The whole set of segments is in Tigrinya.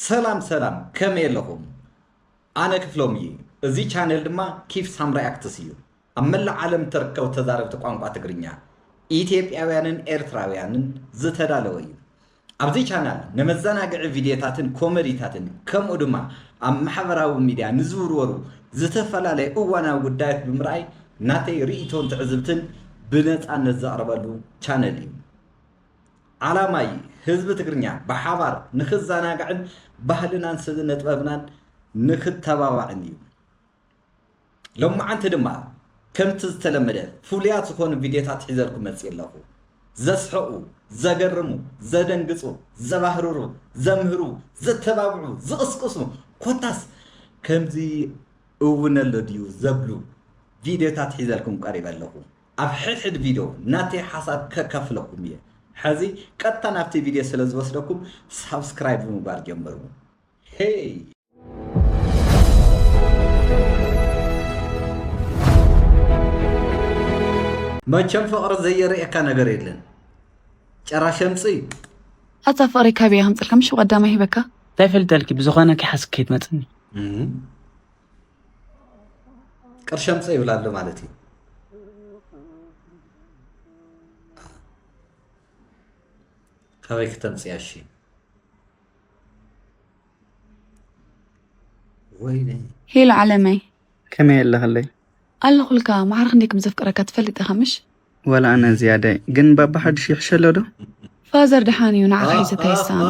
ሰላም ሰላም ከመይ ኣለኹም ኣነ ክፍሎም እየ እዚ ቻነል ድማ ኪፍ ሳም ሪኣክትስ እዩ ኣብ መላእ ዓለም እተርከቡ ተዛረብቲ ቋንቋ ትግርኛ ኢትዮጵያውያንን ኤርትራውያንን ዝተዳለወ እዩ ኣብዚ ቻናል ንመዘናግዒ ቪድዮታትን ኮመዲታትን ከምኡ ድማ ኣብ ማሕበራዊ ሚድያ ንዝውርወሩ ዝተፈላለዩ እዋናዊ ጉዳያት ብምርኣይ ናተይ ርእይቶን ትዕዝብትን ብነፃነት ዘቕርበሉ ቻነል እዩ ዓላማይ ህዝቢ ትግርኛ ብሓባር ንክዘናጋዕን ባህልናን ስነጥበብናን ንክተባባዕን እዩ። ሎማዓንቲ ድማ ከምቲ ዝተለመደ ፍሉያት ዝኾኑ ቪድዮታት ሒዘልኩም መፅእ ኣለኹ። ዘስሕቑ፣ ዘገርሙ፣ ዘደንግፁ፣ ዘባህርሩ፣ ዘምህሩ፣ ዘተባብዑ፣ ዝቕስቅሱ ኮታስ ከምዚ እውን ኣሎ ድዩ ዘብሉ ቪድዮታት ሒዘልኩም ቀሪበ ኣለኹ። ኣብ ሕድሕድ ቪድዮ ናተይ ሓሳብ ከከፍለኩም እየ ሐዚ ቀጥታ ናብቲ ቪድዮ ስለ ዝወስደኩም ሳብስክራይብ ብምግባር ጀምርዎ ሄይ መቸም ፍቅሪ ዘየርእየካ ነገር የለን ጨራ ሸምፅ እዩ ኣታ ፍቅሪ ካበይ ከምፅልካ ምሽ ቀዳማ ሂበካ እንታይ ፈልጠልኪ ብዝኾነ ከይሓስክ ከይትመፅኒ ቅርሺ ኣምፀ ይብል ኣሎ ማለት እዩ ካበይ ክተምፅያ እሺ ወይነ ሄሎ ዓለመይ ከመይ ኣለኽለይ ኣለኹልካ ማዕረ ክንደይ ከም ዘፍቅረካ ትፈልጥ ኢኻ ምሽ ወላ ኣነ ዝያዳይ ግን ባባ ሓድሽ ይሕሸ ኣሎ ዶ ፋዘር ደሓን እዩ ንዓኻ ሒዘ እንታይ ይሳኖ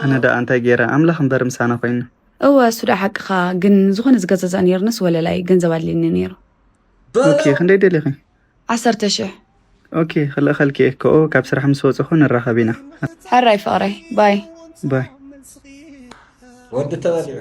ኣነ ደኣ እንታይ ገይረ ኣምላኽ እምበር ምሳና ኮይኑ እወ እሱ ደኣ ሓቅኻ ግን ዝኾነ ዝገዛዛእ ነይርንስ ወለላይ ገንዘብ ኣድልየኒ ነይሩ ኦኬ ክንደይ ደሊኺ ዓሰርተ ሽሕ ኦኬ ክልእኸልኪ እየ ከኦ ካብ ስራሕ ምስ ወፅኹ ንራኸብ ኢና ሕራይ ፍቕረይ ባይ ባይ ወዲ ተባሊዑ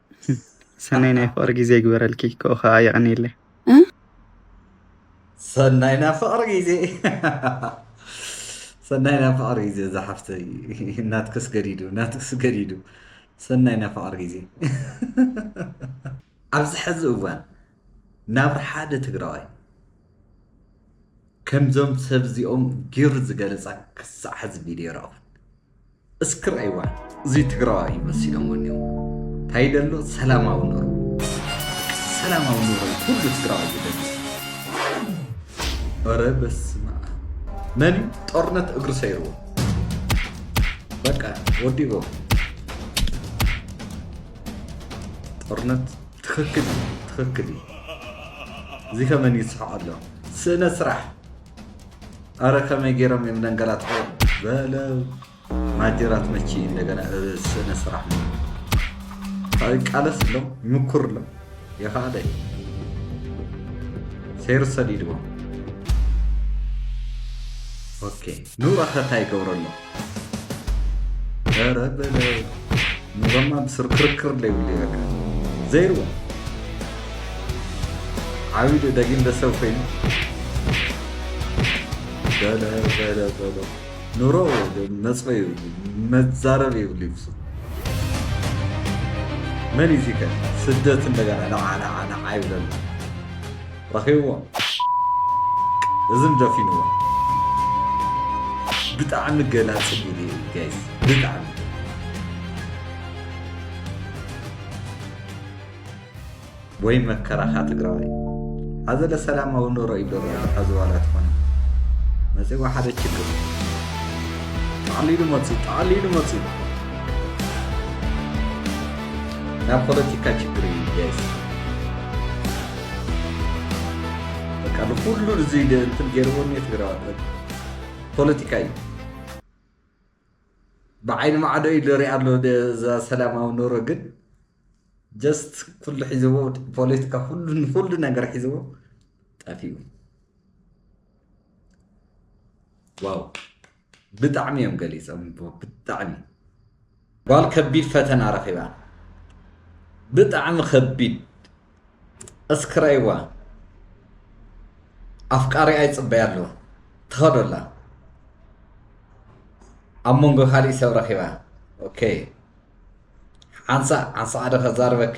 ሰናይ ናይ ፍቅሪ ግዜ ይግበረልኪ ክኡ ከዓ የቀንየለይ ሰናይ ናይ ፍቅሪ ግዜ ሰናይ ናይ ፍቅሪ ግዜ እዛ ሓፍተይ ናትክስ ገዲዱ ናትክስ ገዲዱ ሰናይ ናይ ፍቅሪ ግዜ ኣብዚ ሕዚ እዋን ናብራ ሓደ ትግራዋይ ከምዞም ሰብ እዚኦም ጊሩ ዝገለፃ ክሳዕ ሕዚ ቪድዮ ረኣኹ እስኪ ረኣይዋ እዚ ትግራዋይ እዩ መሲሎም ወኒኡ እንታይ ደሎ ሰላማዊ ኑሮ ሰላማዊ ኑሮ እዩ ኩሉ ትግራዋይ ዝደሊ ኧረ በስመ አብ መን እዩ ጦርነት እግሪ ሰይርዎ በቃ ወዲቦ ጦርነት ትክክል እዩ ትክክል እዩ እዚ ከመን ይስሕቅ ኣሎ ስእነ ስራሕ ኣረ ከመይ ገይሮም እዮም ነንገላትዑ በለው ማጀራት መቺ እንደገና ስነ ስራሕ ቃለስ ሎም ይምኩር ሎም የኸኣለ ሰይሩ ሰዲድዎም ኦኬ ንኡ ኣኸታ ይገብረሎም ኧረ በለው ኑረማ ብስር ክርክር ዘይብሉ በቃ ዘይርዋ ዓብይ ዶ ደጊም ደሰብ ኮይኑ በለ በለ በለ ኑሮ መፅኦ ይብሉ መዛረብ ይብሉ ይብሱ መን እዩ እዚከ ስደት እንደገና ናዓ ናዓ ናዓ ይብለሉ ረኺብዎ እዝን ደፊንዎ ብጣዕሚ ገላፂ ቪድዮ እዩ ጋይስ ብጣዕሚ ወይ መከራኻ ትግራዋይ ኣዘለ ሰላማዊ ኑሮ እዩ ደሮ ኣለካ ዝዋላ ትኾነ መፅዋ ሓደ ችግር ጠቕሊሉ መፁ ጠቕሊሉ መፁ ናብ ፖለቲካ ችግር እዩ ጋይስ በቃ ንኩሉ እዚ እንትን ገይርዎ እኒ ትግራዋት ፖለቲካ እዩ ብዓይኒ ማዕዶ እዩ ዝሪኣ ኣሎ ሰላማዊ ኑሮ ግን ጀስት ኩሉ ሒዝዎ ፖለቲካ ኩሉ ንኩሉ ነገር ሒዝዎ ጠፊኡ ዋው ብጣዕሚ እዮም ገሊፀምዎ ብጣዕሚ ጓል ከቢድ ፈተና ረኺባ ብጣዕሚ ከቢድ እስክረይዋ ኣፍቃሪ ኣይፅበያ ኣለዎ ትኸዶላ ኣብ መንጎ ካሊእ ሰብ ረኺባ ኦኬ ሓንሳእ ሓንሳእ ሓደ ከዛርበኪ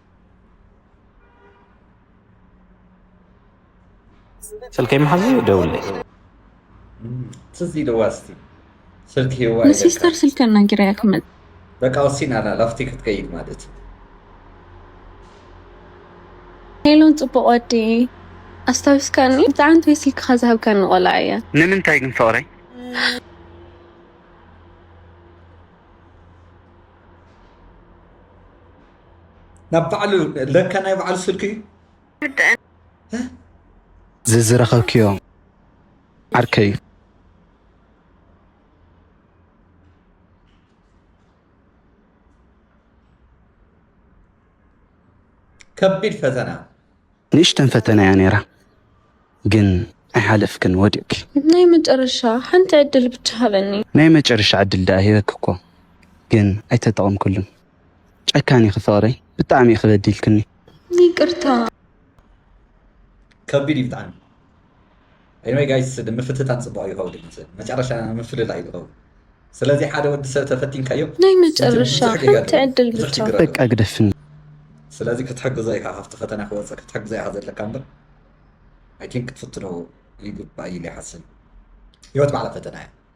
ስልከይ መሓዙ ደውለይ ትዝ ኢልዋ እስቲ ስልክ ሂዋ ንሲስተር ስልክ እናንጊራ እያ ክመፅ በቃ ወሲና ኣላ ላፍቲ ክትከይድ ማለት እዩ ሄሎን ፅቡቅ ወዲ ኣስታዊስካኒ ብጣዕሚ ንተይ ስልክካ ዝሃብካኒ ቆልዓ እያ ንምንታይ ግን ፍቅረይ ናብ ባዕሉ ለካ ናይ ባዕሉ ስልኪ እዩ ዝዝረኸብክዮ ዓርከይ ከቢድ ፈተና ንእሽተን ፈተና እያ ነይራ ግን ኣይሓለፍክን ወዲቕኪ ናይ መጨረሻ ሓንቲ ዕድል ብቻ ሃበኒ ናይ መጨረሻ ዕድል ደኣ ሂበኪ እኮ ግን ኣይተጠቐምክሉን ጨካን ኢኺ ፍቅረይ ብጣዕሚ ኢኺ በዲልክኒ ይቅርታ። ከቢድ እዩ ብጣዕሚ ኤኒወይ ጋይስ ምፍትታን ጽቡቅ እዩ ከውዲ ይመስል መጨረሻ ምፍልላይ እዩ ዝኸውን ስለዚ ሓደ ወዲ ሰብ ተፈቲንካዮ ናይ መጨረሻ ብዙሕ ጌጋ ሓንቲ ኣለዎ ዕድል ብዙሕ ብቻ። ችግር ኣለዎ በቃ ግደፍኒ ስለዚ ክትሕግዞ ኢኻ ካብቲ ፈተና ክወጽእ ክትሕግዞ ኢኻ ዘለካ እምበር ኣይ ቲንክ ክትፍትኖ ይግባእ ኢለ ይሓስብ ህይወት ባዕላ ፈተና እያ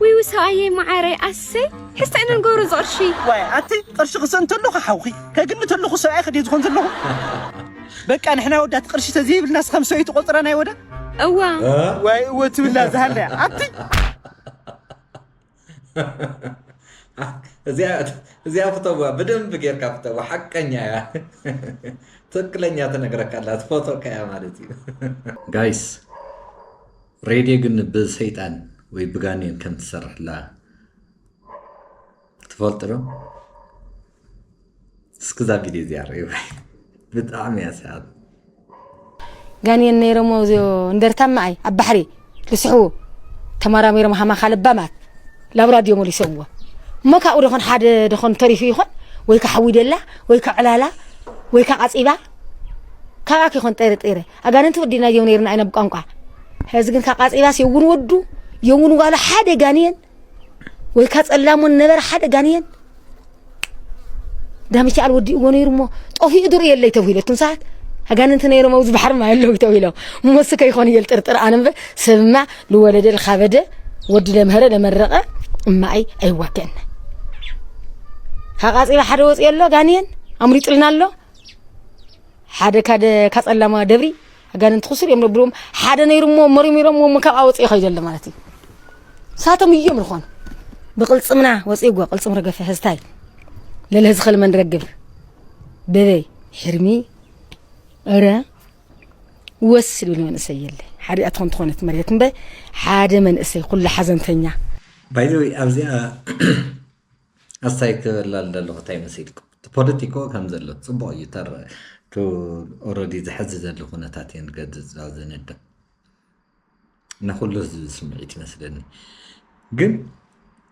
ውይ ውይ ሰኣየይ መዓረይ ኣሰይ ሕዝቲ ዕነ ንገብሮ ዝቕርሺ ዋይ ኣቲ ቅርሺ ክሰእ እንተሎ ሓውኺ ከግምት ኣለኹ ሰብኣይ ክድየ ዝኾን ዘለኹ በቃ ንሕና ኣወዳት ቅርሺ ተዘይብልና ስኸም ሰብይ ትቆፅራ ናይ ወዳ እዋ ዋይ እወ ትብላ ዝሃለያ ኣቲ እዚኣ ፍተዋ ብደንብ ጌርካ ፍተዋ ሓቀኛ እያ ትክክለኛ ትነግረካ ኣላ ትፈትወካ እያ ማለት እዩ ጋይስ ሬድዮ ግን ብሰይጣን ወይ ብጋኔን ከም ትሰርሕላ ትፈልጡ ዶ? እስኪ እዛ ቪድዮ እዚኣ ርእዩ ብጣዕሚ እያ ሰሓብ ጋኔን ነይሮሞ እዚኦ እንደርታ ማኣይ ኣብ ባሕሪ ልስሕቡ ተመራሚሮም ሃማኻ ልባማት ላብ ራድዮ መሊሶምዎ እሞ ካብኡ ደኾን ሓደ ደኾን ተሪፉ ይኾን ወይ ከዓ ሓዊደላ ወይ ከዓ ዕላላ ወይ ከዓ ቃፂባ ካብኣ ይኾን ጠርጢረ ኣጋንንቲ ወዲና እዮም ነርና ኢና ብቋንቋ ሕዚ ግን ካብ ቃጺባስ የውን ወዱ የውን ጓሉ ሓደ ጋንየን ወይ ካብ ጸላሙን ነበረ ሓደ ጋንየን ዳሚቻኣል ወዲእዎ ነይሩ እሞ ጠፊኡ ድሩ የለይ ተብሂሉ እቱም ሰዓት ኣጋንንቲ ነይሮም ኣብዚ ባሕሪ ማይ ኣለዉ ተብሂሎም እሞስ ከይኾኑ እየ ልጥርጥር ኣነ እምበር ሰብማ ልወለደ ልካበደ ወዲ ለምህረ ለመረቐ እማኣይ ኣይዋገእና ካብ ቃጺባ ሓደ ወፂኦ ኣሎ ጋንየን ኣምሪጡልና ኣሎ ሓደ ካደ ካጸላማ ደብሪ ኣጋንንቲ ክሱር እዮም ነብሎም ሓደ ነይሩ እሞ መርሚሮም እሞ ካብ ኣወፅኦ ይኸይዱ ኣሎ ማለት እዩ ሳቶም እዮም ዝኾኑ ብቅልፅምና ወፂእጎ ቅልፅም ረገፈ ህዝታይ ለለ ዝኸል መን ረግብ በበይ ሕርሚ እረ ወስ ዝብል መንእሰይ የለ ሓደ ኣትኾን ትኾነት መሬት እምበ ሓደ መንእሰይ ኩሉ ሓዘንተኛ ባይዘወይ ኣብዚኣ ኣስታይ ክብል ኣለኩ ታይ መሲልኩም እቲ ፖለቲኮ ከም ዘሎ ጽቡቅ እዩ ተር ቱ ኦረዲ ዝሐዚ ዘሎ ኩነታት እየ ንገድጽ እዛ ዘነድብ ንኩሉ ህዝቢ ስምዒት ይመስለኒ ግን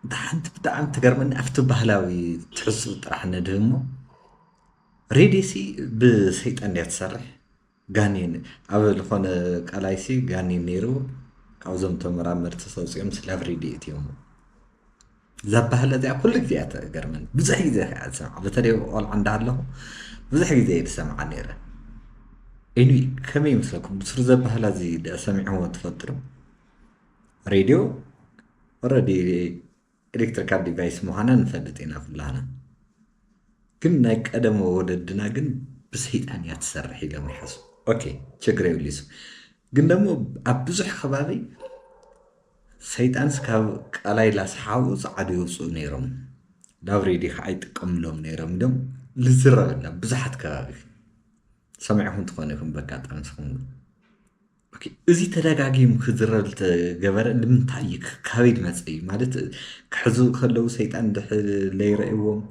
እታ ሓንቲ ብጣዕሚ ትገርመኒ ኣብቲ ባህላዊ ትሕሱ ጥራሕ ነድህሞ ሬድሲ ብሰይጣን እያ ትሰርሕ ጋኔን ኣብ ልኾነ ቃላይሲ ጋኔን ነይሩ ካብዞም ተመራመርቲ ሰውፅኦም ስላብ ሬድኤት እዮም ዘባህለ እዚኣ ኩሉ ግዜ እያ ተገርመን ብዙሕ ግዜ ከዓ ዝሰምዓ በተለይ ቆልዓ እንዳሃለኹ ብዙሕ ግዜ እየ ዝሰምዓ ነይረ ኢሉ ከመይ ይመስለኩም ብሱር ዘባህላ እዚ ሰሚዕዎ ትፈልጥሩ ሬድዮ ኦረዲ ኤሌክትሪካል ዲቫይስ ምዃና ንፈልጥ ኢና ኩላህና ግን ናይ ቀደሞ ወለድና ግን ብሰይጣን እያ ትሰርሕ ኢሎም ይሓስቡ ኦኬ ችግር የብሊሱ ግን ደሞ ኣብ ብዙሕ ከባቢ ሰይጣንስ ካብ ቃላይ ላስሓቡ ፃዓዱ ይውፅኡ ነይሮም ላብሬዲ ከዓ ይጥቀምሎም ነይሮም ኢሎም ልዝረበላ ብዙሓት ከባቢ ሰሚዕኹም ትኾኑ ኢኹም በጋጣሚ ስኹም ኦኬ እዚ ተዳጋጊሙ ክዝረብ ዝተገበረ ንምንታይ እዩ ካበይ ድመፀ እዩ ማለት ክሕዙ ከለው ሰይጣን ለይረእዎም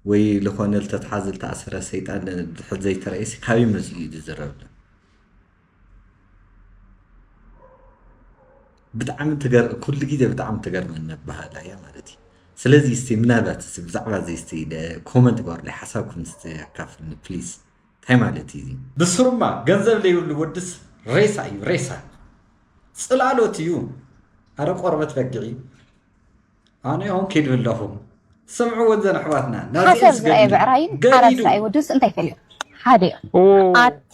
ወይ ዝኾነ ዝተትሓዘ ዝተኣሰረ ሰይጣን ድሕር ዘይተረእየሲ ካበይ መፅ እዩ ዝዝረብ ብጣዕሚ ኩሉ ግዜ ብጣዕሚ ትገርመኒ ኣበሃህላ እያ ማለት እዩ ስለዚ እስቲ ምናልባት ብዛዕባ እዚ እስቲ ኮመንት ግበሩለይ ሓሳብኩም እስቲ ኣካፍልኒ ፕሊዝ ታይ ማለት እዩ እዚ። ብስሩማ ገንዘብ ለይብሉ ወድስ ሬሳ እዩ ሬሳ ጽላሎት እዩ ኣረ ቆርበት በጊዒ ኣነ ይኩን ኪዱ ኣለኩ ስምዕወን ዘን ኣሕዋትና ናዚኤን ስገድሉ ገዲዱ ሓደ እዮም ሓደ እዮም ኣቲ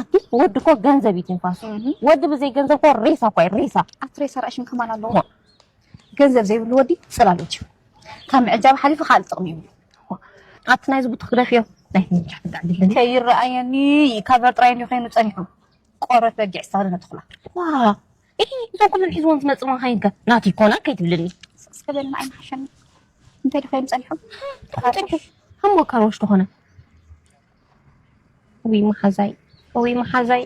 ኣቲ ወዲ እኮ ገንዘብ እዩ ትንፋሱ ወዲ ብዘይ ገንዘብ እኮ ሬሳ እኮ እዩ ሬሳ ኣቲ ሬሳ ራእሽን ከማን ኣለዎ ገንዘብ ዘይብሉ ወዲ ጽላሎት እዩ ካብ ምዕጃብ ሓሊፉ ካልእ ጥቕሚ ይብሉ ኣቲ ናይዚ ቡትኽ ግደፍዮ ናይ ምንጃ ትዳዕድለኒ ከይረኣየኒ ካበር ጥራይ እንዲዩ ኮይኑ ጸኒሑ ቆረት በጊዕ ሳሪ ነትኹላ ዋ እሂ እዞም ኩለን ሒዝዎም ዝመጽእ መኻይን ከ ናቲ ይኮና ከይትብልኒ እስከ በልና ኣይንሓሸኒ እንታይ ድኾይኑ ጸኒሖም ጸኒሑ እሞ ካሮሽ ተኾነ እውይ መሓዛይ እውይ መሓዛይ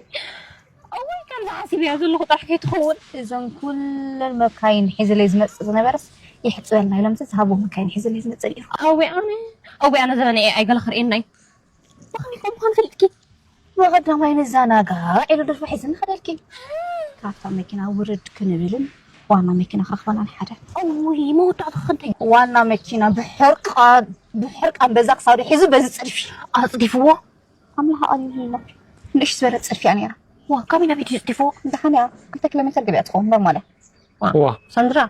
እውይ ከምዚ ሓሲበያ ዘለኹ ጥራሕ ከይትኸውን እዘን ኩለን መካይን ሒዝለይ ዝመፅእ ዝነበረስ የሕፅበልና ኢሎም ዝሃብዎ መካይን ሒዝለይ ዝመፅእ ነይሩ እውይ ኣነ እውይ ኣነ ዘበነ ኤኣይ ገለ ከርእየና እዩ ብኸመይ ከም ምዃኑ ፈሊጥኪ ብቐዳማይ ንዘናጋዕ ኢሉ ድርፋ ሒዝኒ ከደልኪ ካብታ መኪና ውርድ ክንብልን ዋና መኪና ክረኽበናን ሓደ እውይ መወዳእታ ክንደይ ዋና መኪና ብሕርቃን ብሕርቃን በዛ ክሳዱ ሒዙ በዚ ፅድፊ ኣፅዲፍዎ ኣምላኽ ኣልዩልላ ንእሽ ዝበለ ፅድፊ እያ ነይራ ዋ ካበይ ናበይ ድዩ ፅዲፍዎ ድሓን እያ ክልተ ኪሎ ሜትር ገቢያ ትኸውን ኖርማል እያ ሰንድራ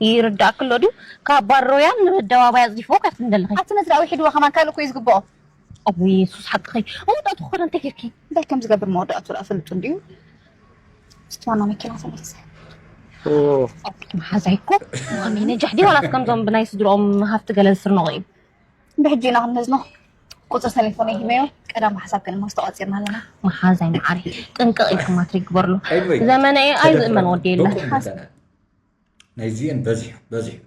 ይርዳእክሎ ድዩ ካብ ባሮያን ንኣደባባይ ኣፅዲፍዎ ካብቲ ንደለኸ ኣብቲ መስርያ ውሒድዎ ከማን ካልእ እኮ እዩ ዝግብኦ ኣብ የሱስ ሓቅኺ መወዳእቱ ክኾነ እንታይ ጌርኪ እንታይ ከም ዝገብር መወዳእቱ ርኣ ፈልጡ እንዲዩ ምስቲ ዋና መኪና ተመልሰ መሓዛይ እኮ ማሚ ነጃሕ ዲ ዋላስ ከምዞም ብናይ ስድሮኦም ሃፍቲ ገለ ዝስርንቑ እዩ ብሕጂ ኢና ክንመዝኖ ቁፅሪ ቴሌፎን ይህበዮ ቀዳም ሓሳብ ከንማ ዝተቋፂርና ኣለና መሓዛይ መዓሪ ጥንቅቕ ኢልኪ ማትሪ ግበርሉ ዘመነ ኣይ ዝእመን ወዲ የለን ናይዚኤን በዚሑ በዚሑ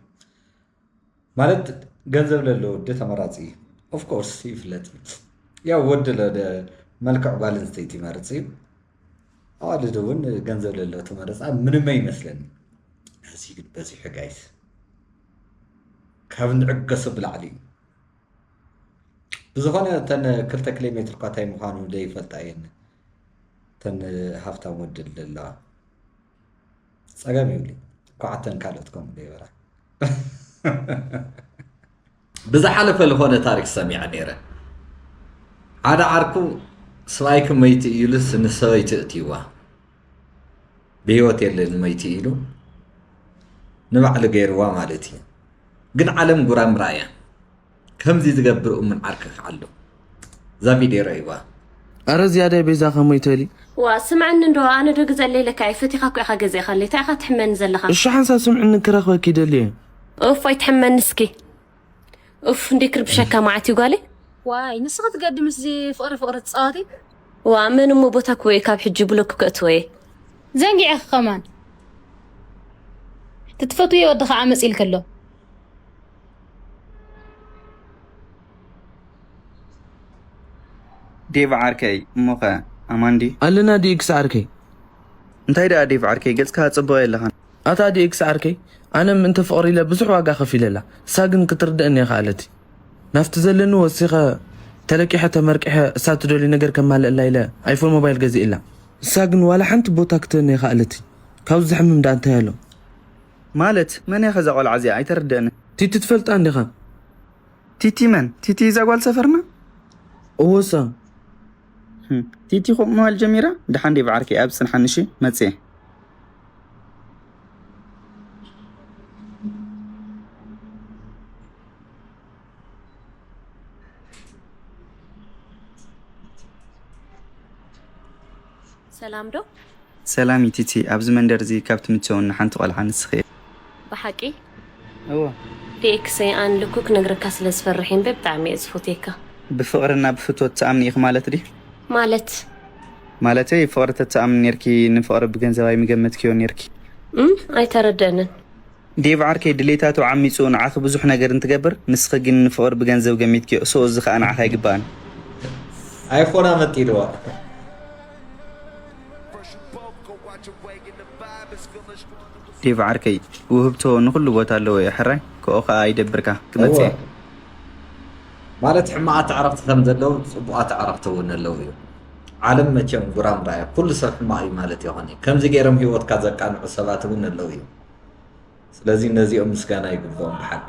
ማለት ገንዘብ ለለ ወዲ ተመራፂ እዩ ኦፍ ኮርስ ይፍለጥ እዩ ያው ወዲ ለደ መልክዕ ጓል ኣንስተይቲ ይመርፅ እዩ ኣዋልድ እውን ገንዘብ ለለ ተመረፃ ምንመ ይመስለኒ እዚ ግን በዚሑ ጋይስ ካብ ንዕገሶ ብላዕሊ እዩ ብዝኾነ እተን ክልተ ኪሎ ሜትር ኳታይ ምዃኑ ዘይፈልጣ እየን እተን ሃፍታም ወድል ዘለዋ ጸገም ይብሉ እኳዕ ኣተን ካልኦት ከምኡ ገይበራ ብዝሓለፈ ዝኾነ ታሪክ ሰሚዐ ነይረ ሓደ ዓርኩ ስባይክ መይቲ ኢሉ ንሰበይቲ እትይዋ ብሂወት የለን መይቲ ኢሉ ንባዕሉ ገይርዋ ማለት እዩ ግን ዓለም ጉራምራ እያ ከምዚ ዝገብር እሙን ዓርኪ ክዓ ኣሎ እዛ ቪድዮ ረእይዋ። ኣረ ዝያዳይ ቤዛ ከመይ ተሊ። ዋእ ስምዐኒ እንዶ ኣነ ዶ ግዘ ለይለካ እየ ፈቲካ እኮ ኢካ ገዚእካ ኣለይ ታይ ኢካ ትሕመኒ ዘለካ። እሺ ሓንሳብ ስምዕኒ ክረክበኪ ይደሊ እየ። ኡፍ ኣይትሕመኒ እስኪ ኡፍ እንዴ ክርብሸካ መዓት እዩ ጓለይ። ዋይ ንስኺ ትገዲ ምስዚ ፍቕሪ ፍቕሪ ትፃወቲ ዋእ መን እሞ ቦታ ክወየ ካብ ሕጂ ብሎክ ከእትዎ እየ። ዘንጊዐኺ ከማን ትትፈትውዮ ወዲ ከዓ መፂእልኪ ኣሎ። ዴቭ ዓርከይ እሞኸ ኣማን ድዩ? ኣለና ዲኤክስ ዓርከይ። እንታይ ደኣ ዴቭ ዓርከይ ገጽካ ጽቡቕ የለኻን። ኣታ ዲኤክስ ዓርከይ ኣነ ምእንቲ ፍቕሪ ኢለ ብዙሕ ዋጋ ከፊለላ እሳ ግን ክትርድእኒ የኸኣለት ናብቲ ዘለኒ ወሲኸ ተለቂሐ ተመርቂሐ እሳ ትደልዩ ነገር ከማልእላ ኢለ ኣይፎን ሞባይል ገዚእላ እሳ ግን ዋላ ሓንቲ ቦታ ክትህበኒ የኸኣለት ካብዚ ዝሕምም ደኣ እንታይ ኣሎ ማለት መን እያኸ እዛ ቆልዓ እዚኣ ኣይተርደእንን። ቲቲ ትፈልጣ እንዲኻ። ቲቲ መን? ቲቲ እዛ ጓል ሰፈርና? እወሳ። ቲቲ ከምኡ ምባል ጀሚራ? ደሓን ዲብ ዓርከይ ኣብ ጽንሓኒ እሺ መጽየ። ሰላም ዶ? ሰላም ዩቲቲ ኣብዚ መንደር እዚ ካብ ትምቸውኒ ሓንቲ ቆልዓ ንስኺ እያ። ብሓቂ? እወ። DX ሰይ ኣን ልኩ ክነግረካ ስለ ዝፈርሕ እምበ ብጣዕሚ እየ ዝፎትየካ። ብፍቅሪ እና ብፍትወት ትኣምኒ ኢኪ ማለት ድዩ? ማለት? ማለተይ ፍቅሪ ተትኣምኒ ኔርኪ ንፍቅሪ ብገንዘብ ኣይምገመትክዮን ኔርኪ። እም ኣይተረደእንን። ዴቭ ዓርከይ ድሌታቱ ዓሚጹ ንዓኺ ብዙሕ ነገር እንትገብር ንስኺ ግን ንፍቕሪ ብገንዘብ ገሚትክዮ so እዚ ከኣ ንዓኺ ኣይግባእን። ኣይፎን ኣመጢልዋ። ዴቭ ዓርከይ ውህብቶ ንኹሉ ቦታ ኣለዎ እዩ ሕራይ ክኦ ከኣ ኣይደብርካ ክመጽእ እየ። ማለት ሕማቃት ኣዕርክቲ ከም ዘለው ጽቡቃት ኣዕርክቲ እውን ኣለው እዩ ዓለም መቸም ጉራምራ እያ ኩሉ ሰብ ሕማቅ እዩ ማለት የኮነይ ከምዚ ገይሮም ሂወትካ ዘቃንዑ ሰባት እውን ኣለው እዩ ስለዚ ነዚኦም ምስጋና ይግብኦም ብሓቂ።